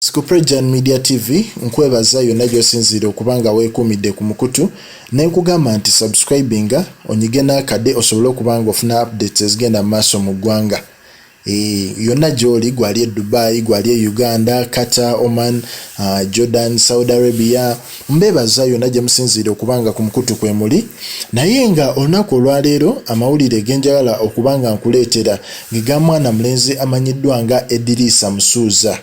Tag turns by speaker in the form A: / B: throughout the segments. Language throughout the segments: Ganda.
A: Sikuprejan Media TV nkwebaza yonna gy'osinziira okuba nga weekuumidde ku mukutu ne nkugamba nti subscribinga onyige n'akade osobole okuba nga ofuna updates ezigenda mu maaso mu ggwanga eh, yonna gy'oli gwali e Dubai gwali e Uganda Qatar Oman uh, Jordan Saudi Arabia Mbebaza yona jemusinziira okuba nga ku mukutu kwemuli naye nga olunaku olwaleero amawulire genjagala okuba nga nkuleetera ge ga mwana mulenzi amanyiddwa nga Ediriisa Musuuza.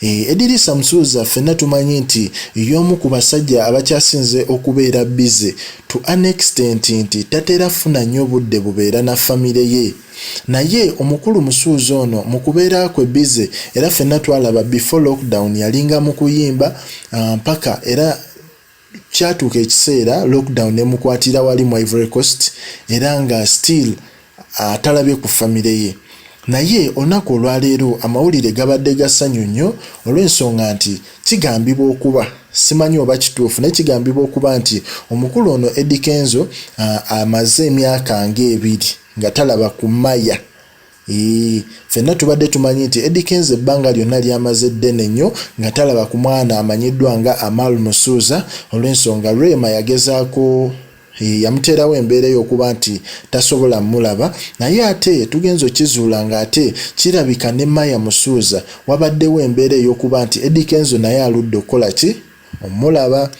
A: Eeh Ediriisa Musuuza ffenna tumanyi nti yoomu ku basajja abakyasinze okubeera busy to an extent nti tatera funa nyo budde bubeera na family ye. Naye omukulu musuuza ono mukubeera kwe busy era fenna twalaba before lockdown yalinga mukuyimba ah, mpaka era kyatuuka ekiseera lockdown nemukwatira wali mu Ivory Coast era nga still atalabye ah, ku famire ye naye olunaku olwaleero amawulire gabadde gasanyu nnyo olw'ensonga nti kigambibwa okuba simanyi oba kituufu naye kigambibwa okuba nti omukulu ono Eddy Kenzo ah, amaze emyaka ng'ebiri nga talaba ku maya Eeh fenna tubadde tumanyi nti Eddy Kenzo ebbanga lyonna lyamaze ddene nnyo nga talaba ku mwana amanyiddwa nga Amal Musuuza olw'ensonga Rema yagezaako eh, yamuteerawo embeera ey'okuba nti tasobola mulaba naye ate tugenze okizuula ng'ate kirabika ne Maya Musuuza wabaddewo embeera ey'okuba nti Eddy Kenzo naye aludde okukola ki omulaba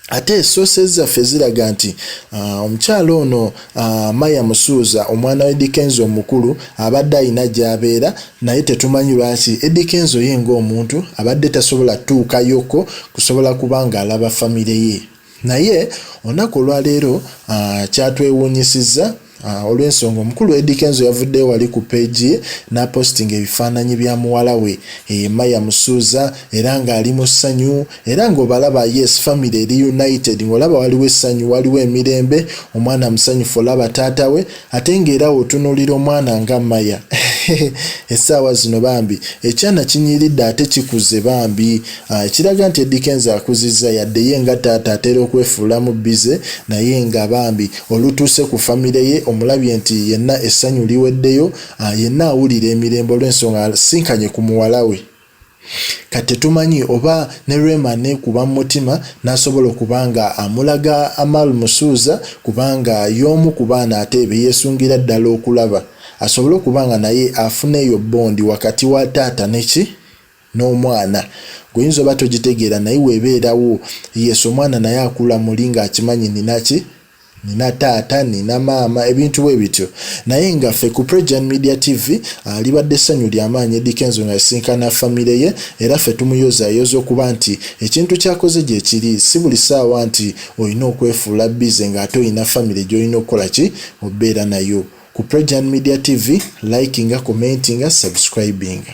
A: ate sources zaffe ziraga nti uh, omukyala ono uh, maya musuuza omwana wa edikenzo omukulu abadde alina gyabeera naye tetumanyi lwaki edikenzo ye ngaomuntu abadde tasobola tuukayoko kusobola kuba nga alaba famire ye naye olunaku olwaleero uh, kyatwewuunyisizza Ah, olw'ensonga omukulu Eddy Kenzo yavuddeyo wali ku peegi ye n'apositinga ebifaananyi bya muwala we Emma yamusuuza era ng'ali mu ssanyu era ng'obalaba yes famire eri united ng'olaba waliwo essanyu waliwo emirembe omwana musanyufu olaba taata we ate ng'era otunuulira omwana nga Maya essaawa zino bambi ekyana kinyiridde ate kikuze bambi Ah, ekiraga nti Eddy Kenzo akuzizza yadde ye nga taata atera okwefuulamu bbize naye nga bambi olutuuse ku famire ye omulabye nti yenna essanyu liweddeyo ah, yenna awulira emirembe olw'ensonga asinkanye ku muwala we kati tetumanyi oba ne Rema neekuba mu mutima n'asobola okuba nga amulaga Amal Musuuza kubanga y'omu ku baana ate be yeesungira ddala okulaba asobole okuba nga naye afuna eyo bbondi wakati wa taata ne ki n'omwana gwe oyinza oba togitegeera naye webeerawo yes omwana naye akula muli nga akimanyi nina ki nina taata nina maama ebintu bwe bityo naye nga ffe ku Prejan Media TV ah, libadde essanyu lya maanyi Eddy Kenzo nga yasisinkana famire ye era ffe tumuyozayoza okuba nti ekintu kyakoze gye kiri si buli ssaawa nti olina okwefuula bize ng'ate olina famire gy'olina okukola ki obeera nayo ku Prejan Media TV likinga commentinga subscribinga